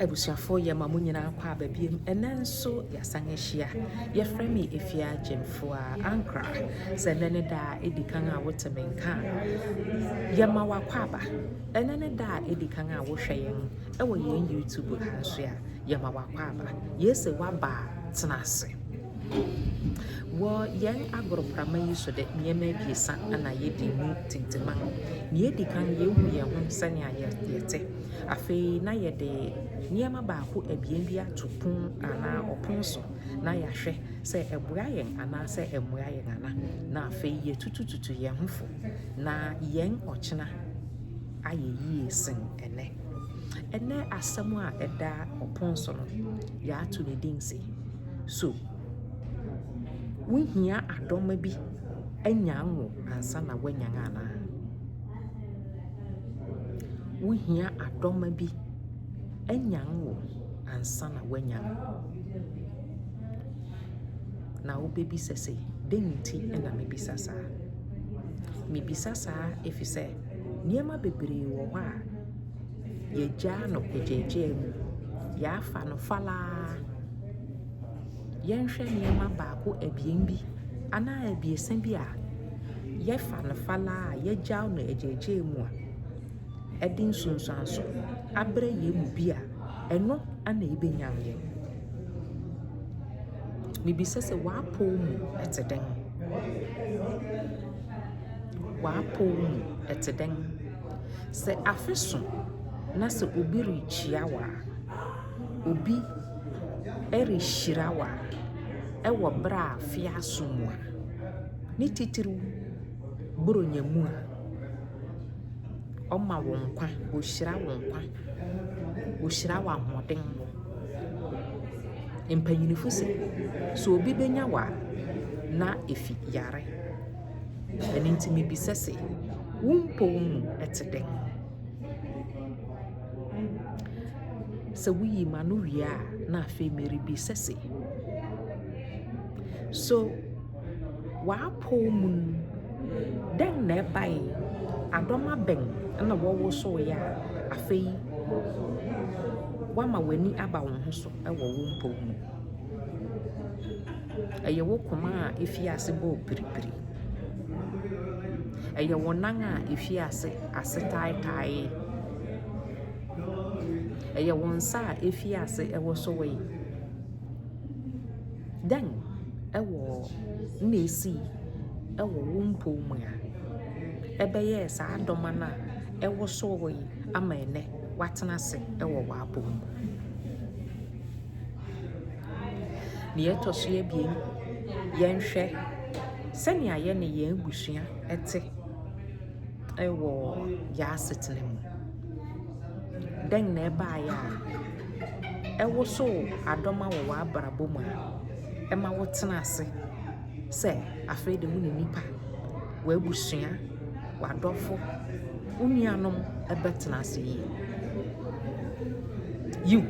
Abusuafo yɛ ma mo nyinaa kɔ aba biom ɛnɛ nso yasan ahyia yɛfrɛ me Efia Gyemfoa Ankra sɛ ɛnɛ ne da a edi kan a wote me nka a yɛ ma wakɔ aba ɛnɛ ne da a edi kan a wohwɛ yɛn ɛwɔ yɛn YouTube ha nso a yɛ ma wakɔ aba yɛsɛ waba tena ase wɔ yɛn agoroprama yi so de nneɛma abiɛsa na yɛdi mu tintiman nea edi kan yɛhu yɛn ho sɛnea yɛte Afei na yɛde nneɛma baako abien bi ato pon anaa ɔpon so na yɛahwɛ sɛ ɛboa yɛn anaasɛ ɛmmoa yɛn ana. Na afei yɛatutututu yɛn ho fo, na yɛn ɔkyena ayɛ yie sen ɛnnɛ. Ɛnnɛ asɛm a ɛda ɔpon so no, yɛato no din se, So wohia adɔma bi anyan wo ansa na woanyan anaa? Wohia adɔma bi anyan wo ansa na woanyan. Na wobɛbisa sɛ, dɛn nti na mebisa saa? Mebisa saa ɛfiri sɛ nneɛma bebree wɔ hɔ a, yɛagyaa no pɛgyɛɛgyɛɛ mu, yɛafa no falaa. Yɛnhwɛ nneɛma baako, abien bi anaa abiɛsa bi a. yɛfa no falaa a yɛagyaw no agyaagyaa mu a, ɛde nsunsuanso abrɛ yɛn mu bi a, ɛno na ebenyan yɛn. Mibisa sɛ, w'apɔw mu te dɛn? W'apɔw mu te dɛn? Sɛ afe so na sɛ obi rekyia wo a, obi rehyira wo a, wɔ bere a afe aso mu a. ne titiriw Buronya mu a, Ɔma wo nkwa, Ohyira wo nkwa, Ohyira wo ahoɔden. Mpanyinfo se, sɛ obi benya wo a, na efi yare. Ɛno nti mibisa se, wo mpɔw mu ɛte dɛn? Sɛ woyi m'ano wie a, na afei merebisa se, so. W'apɔw mu no, dɛn na ɛbae? Adɔma bɛn na wɔwosowee a afei woama w'ani aba wo ho so wɔ wo mpɔw mu? Ɛyɛ wo koma a efii ase bɔɔ piripiri? Ɛyɛ wo nan a efii ase ase taetaee? Ɛyɛ wo nsa a efii ase wosowee? Dɛn wɔ na esii wɔ wo mpɔw mu a ɛbɛyɛɛ saa adɔma no a ɛwosow hɔ yi ama ɛnnɛ woatena ase wɔ w'apɔw mu? Nea ɛtɔ so abien, yɛnhwɛ sɛnea yɛne yɛn abusua te wɔ yɛn asetena mu. Dɛn na ɛbaeɛ a ɛwosoo adɔma wɔ w'abrabɔ mu a ɛma wotena ase sɛ afei de wo ne nnipa, w'abusua, w'adɔfo, wo nuanom bɛtena ase yie? Yiw,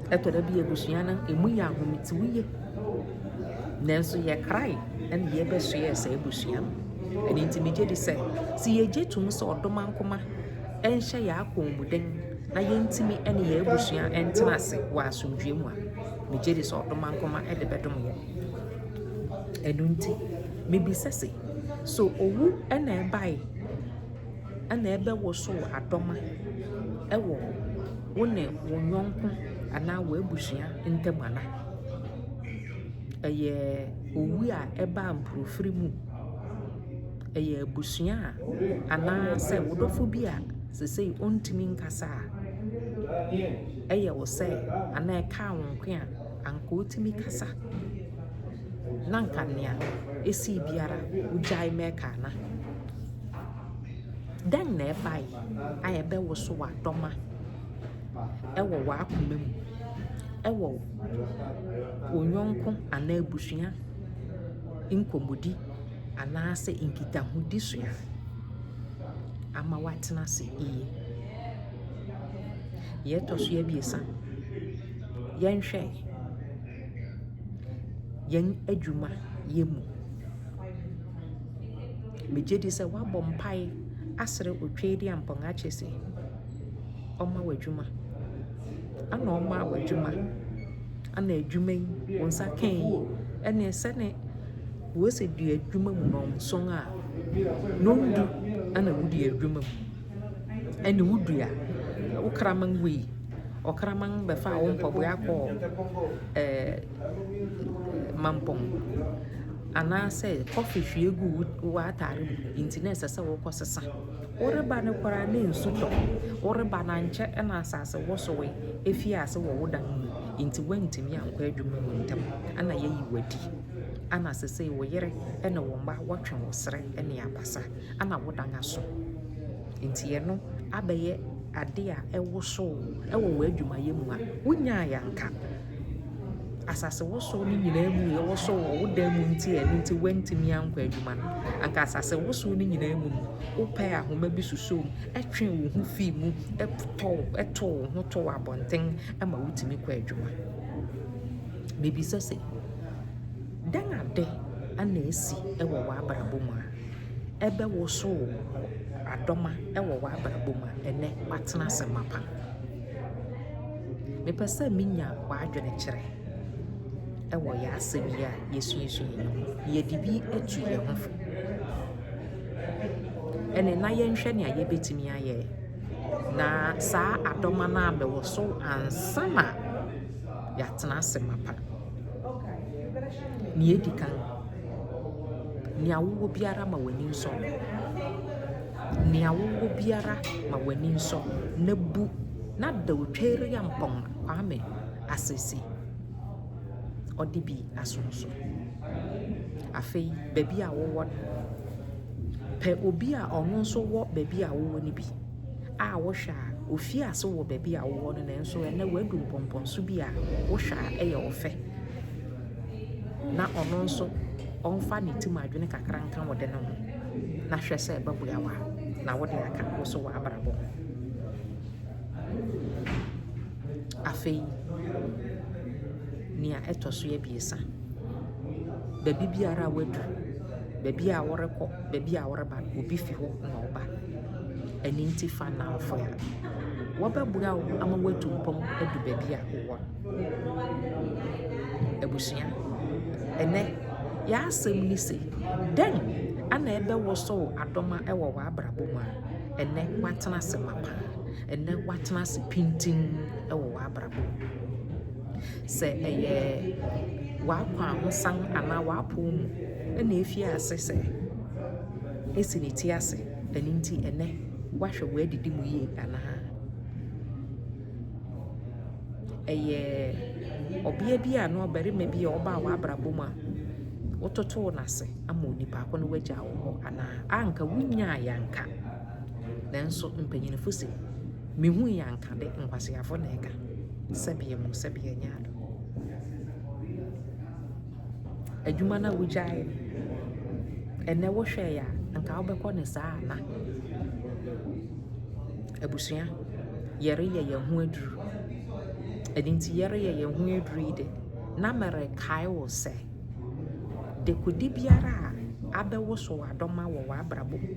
ɛtɔ da bi a abusua no emu yɛ ahometew yie, nanso yɛkrae na yɛbɛsoɛɛ saa abusua no. Ɛno nti, megye di sɛ sɛ yɛgye tom sɛ ɔdomankoma. nhyɛ yɛn akɔn mu den na yɛntumi ne yɛn abusua ntena ase wɔ asomdwoeɛ mu a, megye di sɛ ɔdomankoma de bɛdom yɛn. Ɛno nti, mebisa se, so owu na ɛbae na ɛbɛwosow adɔma wɔ wo ne wo yɔnko anaa w'abusua ntam ana? Ɛyɛ owu a ɛbaa mpofirim. Ɛyɛ abusua a anaasɛ wo dɔfo bi a seesei ɔntumi nkasa a, ɛyɛ wo sɛ anaa ɛkaa wo nko a, anka wotumi kasa na anka nea esii biara wugyae ma ɛka no. Dɛn na ɛbae a ɛbɛwosow adɔma wɔ w'akoma mu wɔ wo yɔnko anaa abusua nkɔmmɔdi. anaasɛ nkitahodi so a, ama wɔatena ase yiye. Nea ɛtɔ so abiɛsa, yɛnhwɛ yɛn adwumayɛ mu. Migye di sɛ woabɔ mpae asrɛ Otweaduampɔn akyɛ sɛ ɔmma wo adwuma, ɛna ɔmaa wo adwuma, ɛna adwuma yi, wo nsa kae yi, ɛnneɛ sɛnea Wose dua adwuma mu nɔnson a, nondu na wo dua adwuma mu. Ɛne wo dua, wo kraman wei, ɔkraman bɛfaa wo mpaboa kɔɔ ɛɛ mampɔn anaasɛ kɔfe hwie gu w'ataare mu nti na ɛsɛ sɛ wokɔ sesa. Woreba no koraa na nsu tɔ, woreba no ankyɛ na asase wosowee efii ase wɔ wo dan mu nti woantumi ankɔ adwuma mu ntɛm na yɛayi wo adi. Ana sesei wo yere ne wo mma wɔtwe wo srɛ ne abasa. Ana wodan aso. Nti ɛno abɛyɛ ade a ɛwosow wo wɔ w'adwumayɛ mu a wonyae anka. Asasewosow no nyinaa mu nea ɛwosow wo wɔ wo dan mu nti a ɛno nti woantumi ankɔ adwuma no, anka asasewosow no nyinaa mu no, wopɛɛ ahoma bi susoo mu, twee wo ho fii mu, tow wo ho too abɔnten ma wutumi kɔɔ adwuma. Mibisa se. Dɛn ade na asi wɔ w'abrabɔ mu a ɛbɛwosow adɔma wɔ w'abrabɔ mu a ɛnnɛ woatena ase mapa? Mepɛ sɛ minya w'adwene kyerɛ wɔ yɛn asɛm yi a yɛasuasua yi mu. Yɛde bi atu yɛn ho fo. Ɛnde na yɛnhwɛ nea yɛbɛtumi ayɛ na saa adɔma no abɛwosow ansa na. yɛatsena ase mapa. Nea edi kan, nea wowɔ biara ma w'ani nsɔ. Nea wowɔ biara ma w'ani nsɔ, na bu na da Otweriampong Kwame Asese ɔde bi asom so. Afei baabi a wowɔ no, pɛ obi a ɔno nso wɔ baabi a wowɔ no bi. a wohwɛ a, ofii ase wɔ baabi a wowɔ no nanso ɛnnɛ wadu mpɔmpɔnso bi a wohwɛ a ɛyɛ ɔfɛ. Na ɔno nso ɔmfa ne tim adwene kakra nka wo de no ho na hwɛ sɛ ɛbɛboa wo a na wode aka wo so w'abrabɔ ho. Afei, nea ɛtɔ so abiɛsa, baabi biara a wadu, baabi a worekɔ, baabi a woreba no, obi fi hɔ na ɔba. Ɛno nti fa nnamfo a wɔbɛboa wo ama woatu mpɔn adu baabi a wowɔ no. Abusua, ɛnnɛ yɛn asɛm ne se, dɛn na ɛbɛwosow adom wɔ w'abrabɔ mu a ɛnnɛ woatena ase mapã, ɛnnɛ woatena ase pintinn wɔ w'abrabɔ mu? Sɛ ɛyɛ w'akwahosan anaa w'apɔw mu na efii ase sɛ esi ne ti ase Ɛno nti ɛnnɛ woahwɛ w'adidi mu yie anaa? Ɛyɛ ɔbea bi anaa ɔbarima bi a ɔbaa w'abrabɔ mu a wototoo no ase ama onipa ko no wagyaa wo hɔ anaa? Anka wonyaeɛ anka. Nanso mpanyinfo se, mehui anka de, nkwaseafo na ɛka. Sɛbeɛ mu, sɛbeɛ nyɛ ado. adwuma no a wogyaeɛ no, ɛnnɛ wohwɛeɛ a, anka wobɛkɔ no saa ana? Abusua, yɛreyɛ yɛn ho aduru. Ɛno nti yɛreyɛ yɛn ho aduru yi de, na merekae wo sɛ, dekode biara a abɛwoso w'adɔma wɔ w'abrabɔ mu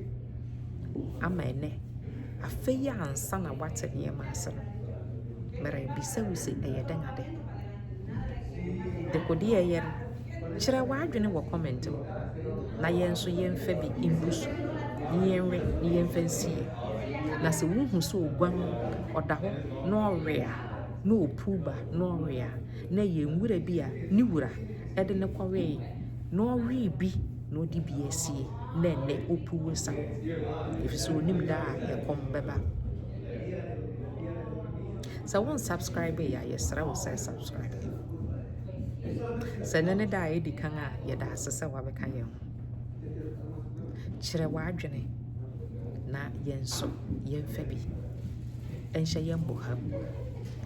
ama ɛnɛ, afei ansa na woate nneɛma ase no, merebisa wo sɛ ɛyɛ dɛn adɛn? Dekode a ɛyɛ no, kyerɛ w'adwene wɔ comment mu na yɛn nso yɛmfa bi ngu so na yɛnwe na yɛmfa nsi yie. Na sɛ wohu sɛ oguam, ɔda hɔ na ɔwe a, na ɔpuw ba na ɔwe a, na ɛyɛ nwura bi a ne wura de no kɔwee na ɔwee bi na ɔde bi asie na ɛnnɛ ɔpuw resa ɛfiri sɛ ɔnim da a ɛkɔm bɛba. Sɛ wo nsubscribe yɛ a yɛsrɛ wo sɛ subscribe. Sɛ ne ne da a ɛdi kan a yɛda ase sɛ wabɛka yɛn ho. Kyerɛ w'adwene na yɛn nso yɛmfa bi nhyɛ yɛn boha mu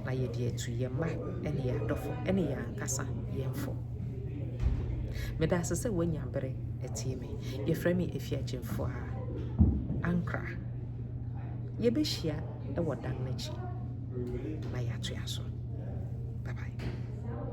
na yɛde atu yɛn mma ne yɛn adɔfo ne yɛn ankasa yɛn fo. Meda ase sɛ woanya bere atie me. Yɛfrɛ me Efiakyimfoɔ a Ankra. Yɛbɛhyia wɔ dan no akyi na yɛatoa so. Bye bye.